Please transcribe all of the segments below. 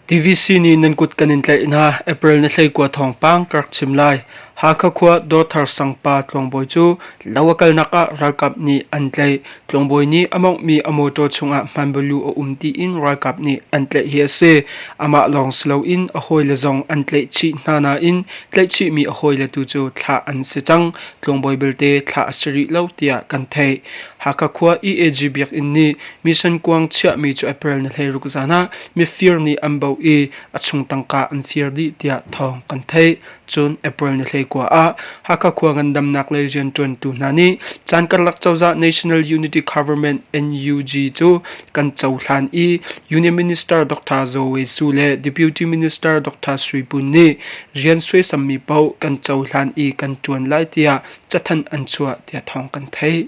TVC nih nan kut kan in tlaih hna April na hleikua thawngpang ka rak chim lai. Hakha khua Dawthar sang pa tlawngbawi cu lo a kalnak ah ralkap nih an tlaih. Tlawngbawi nih a monghmi a motor chungah hmanbalu a um tiin ralkap nih an tlaih hi a si. Amah lawng si loin a hawile zong an tlaih chih hna nain tlaih chihmi a hawile tu cu thlah an si cang. Tlawngbawi belte thlah a si rih lo tiah kan theih. Hakha khua EAG biakinn nih mission kuang chiahmi cu April ni hleiruk zan ah mifir nih an bauh i a chung tangka an fir dih tiah thawng kan theih. Cun April ni hleikua ah Hakha khua ngandamnak lei rianṭuantu hna nih caan karlak cozah National Unity Government NUG cu kan cohlan i Union Minister Dr. Zoe Su le Deputy Minister Dr. Sui Pun nih rian suaisammi paoh kan cohlan i kan ṭuan lai tiah cathanh an chuah tiah thawng kan theih.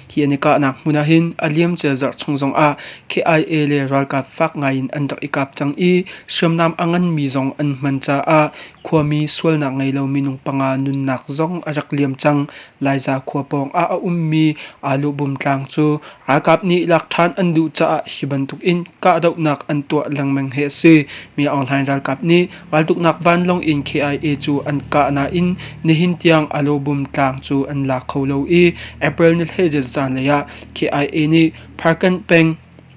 Hi an i kahnak hmun ahhin a liamcia zarh chung zongah KIA le ralkap fak ngaiin an rak i kap cang i hriamnam a nganmi zong an hman caah khuami sualnak ngei lo minung panga nunnak zong a rak liam cang. Laiza khua pawng ah a ummi Aluhbum tlang cu ralkap nih lak ṭhan an duh caah hi bantuk in kahdohnak an tuah lengmang hi a si. Mi Aung Hlaing ralkap nih Raltuknak vanlawng in KIA cu an kah nain nihin tiang Alobum tlang cu an la kho lo i April ni hlei zanlei ah KIA nih Parkan peng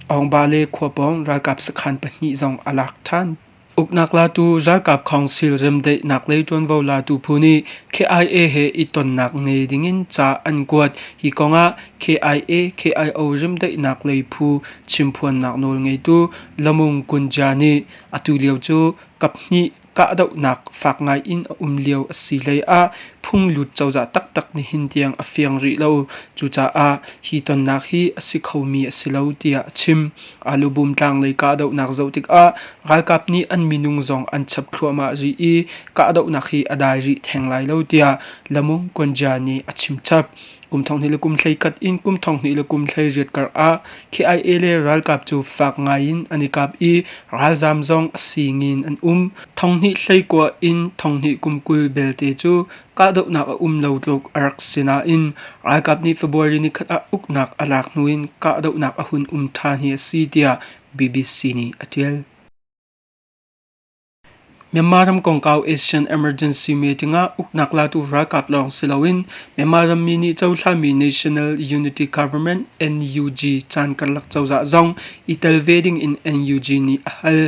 Aungba le Khuapawng ralkap sakhan pahnih zong a lak ṭhan. Uknak latu ralkap council remdaihnak lei ṭuanvo latu phu nih KIA he i tonnak ngei dingin ca an kuat. Hi kongah KIA KIO remdaihnak lei phu chimphuannak nawl ngeitu Lamung Kunja nih Atulio cu kaphnih kahdohnak fak ngaiin a um lio a si hleiah phunglut cozah taktak nihin tiang a fiang rih lo. Cucaah hi tonnak hi a si khomi a si lo tiah a chim. Alubum tlanglei kahdohnak zoh tikah ralkap nih an minung zong an chap thluahmah rih i kahdohnak hi a dai rih theng lai lo tiah Lamung Gunja nih a chimchap. Kum thonghnih le kum hlei kat in kum thonghnih le kum hlei riat kar ah KIA le ralkap cu fak ngai in an i kap i ralzam zong a sing in an um. Thonghnih hlei kua in thonghnih kum kul belte cu kahdohnak a um lo tluk a rak si nain ralkap nih February ni khat ah uknak a lak hnu in kahdohnak a hun um ṭhan hi a si tiah BBC nih a ṭial. Myanmar ram kongkau Asian Emergency Meeting ah uknak latu ralkap lawng si loin Myanmar rammi nih cohlami National Unity Government NUG caan karlak cozah zong i tel ve ding in NUG nih a hal.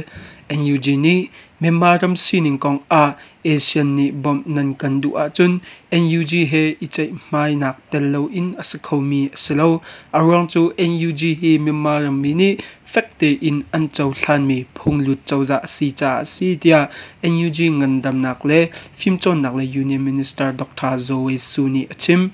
NUG nih Myanmar ram sining kong ah ASEAN nih bawmh nan kan duh ahcun NUG he i ceihmainak tel loin a si khomi a si lo. A ruang cu NUG hi Myanmar rammi nih fek tein an cohlanmi phunglut cozah a si caah a si tiah NUG ngandamnak le fimcawnnak le Union Minister Dr. Zoe Su nih a chim.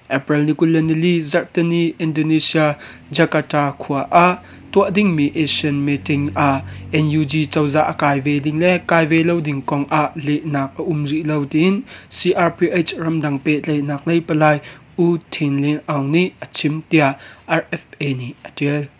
April ni kul le nili zarhteni Indonesia Jakarta khua ah tuah dingmi Asian meeting ah NUG cozah a kai ve ding le kai ve lo ding kong ah lehnak a um rih lo tiin CRPH ramdang pehtlaihnak lei palai U Tin Lin Aung nih a chim tiah RFA nih a ṭial.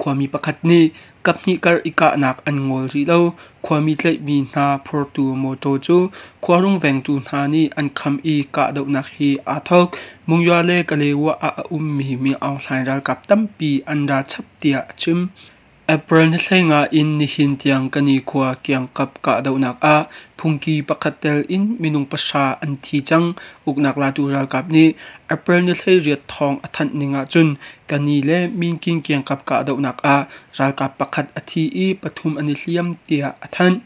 Khuami pakhat nih kaphnih kar i kahnak an ngol rih lo. Khuami tlaihmi hna phurtu mawtaw cu khuarung vengtu hna nih an kham i kahdohnak hi aa thawk. Mungyaw le Kaleywa ah a ummi miohhlai ralkap tampi an ra chap tiah a chim. April ni hleinga in nihin tiang Kanikhuaa kiangkap kahdohnak ah phungki pakhat tel in minung pahra an thi cang. Uknak latu ralkap nih April ni hleiriat thawng a thanh ning ahcun Ka ni le minkin kiangkap kahdohnak ah ralkap pakhat a thi i pathum an i hliam tiah a thanh.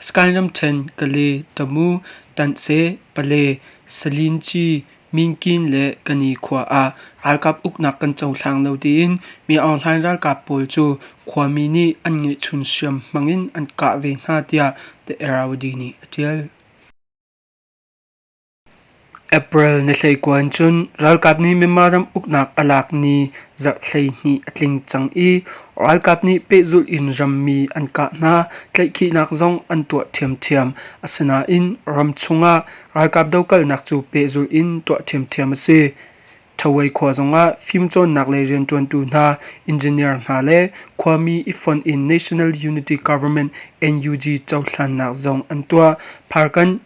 Sky ramṭhen Kale, Tamu, Tantse, Pale, Salinci, Minkin le Kani khua ah ralkap uknak kan cohlang lo tiin Mi Aung Hlaing ralkap pawl cu khuami nih an ngeihchun hriam hmang in an kah ve hna tiah The Araudi nih a ṭial. April na hleikuan cun ralkap nih Myanmar ram uknak a lak ni zarh hleihnih a tling cang i ralkap nih pehzulh in rammi an kah hna, tlaihkhihnak zong an tuah ṭhiamṭhiam. Asinain ram chungah ralkap dokalnak cu pehzulh in tuah ṭhiamṭhiam a si. Thaawei khua zongah fimcawnnak lei rianṭuantu hna, engineer hna le khuami i fonh in National Unity Government NUG cohlannak zong an tuah. Pharkan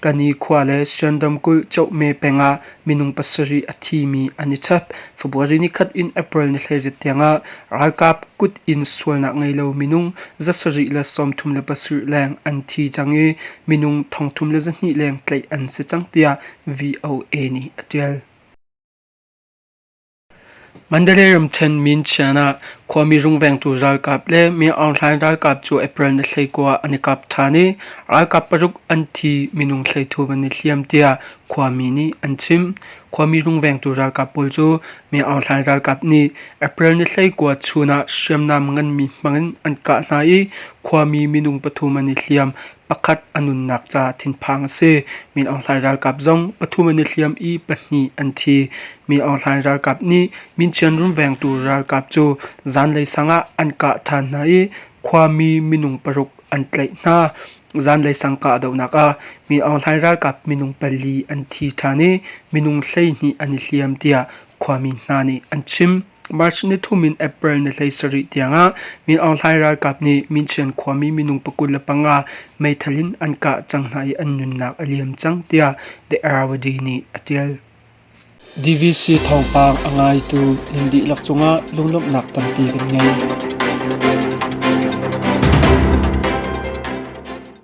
Ka nikhua le Siandam kulh Chohme peng ah minung pasarih a thimi an i chap. February nikhat in April nithleiriat tiangah ralkap kut in sualnak ngei lo minung zasarih le sawmthum le pasarih leng an thi cang i minung thongthum le zahnih leng tlaih an si cang tiah VOA nih a ṭial. Mandalay ramṭhen min chian ah khuami rungvengtu ralkap le Myangaw ralkap cu April ni hleikua an i kap ṭhan i ralkap paruk an thi minung thleithup an i hliam tiah khuami nih an chim. Khuami rungvengtu ralkap pawl cu Myangaw ralkap nih April ni hleikua chun ah hriamnam nganmi hmang in an kah hna i khuami minung pathum an i hliam. Pakhat a nunnak ca thinphang a si. Mi Aung Hlaing ralkap zong pathum an i hliam i pahnih an thi. Mi Aung Hlaing ralkap nih Minchian runvengtu ralkap cu zanlei sang ah an kah ṭhan hna i khuami minung paruk an tlaih hna. Zanlei sang kahdohnak ah Mi Aung Hlaing ralkap minung pali an thi ṭhan i minung hleihnih an i hliam tiah khuami hna nih an chim. March ni thum in April ni hlei sarih tiangah Min Aung Hlaing ralkap nih Minchen khuami minung pakut le panga meithal in an kah cang hna i an nunnak a liam cang tiah The Aravaadi nih a tial. DVC thawngpang a ngaitu nan dihlak cungah lunglawmhnak tampi kan ngei.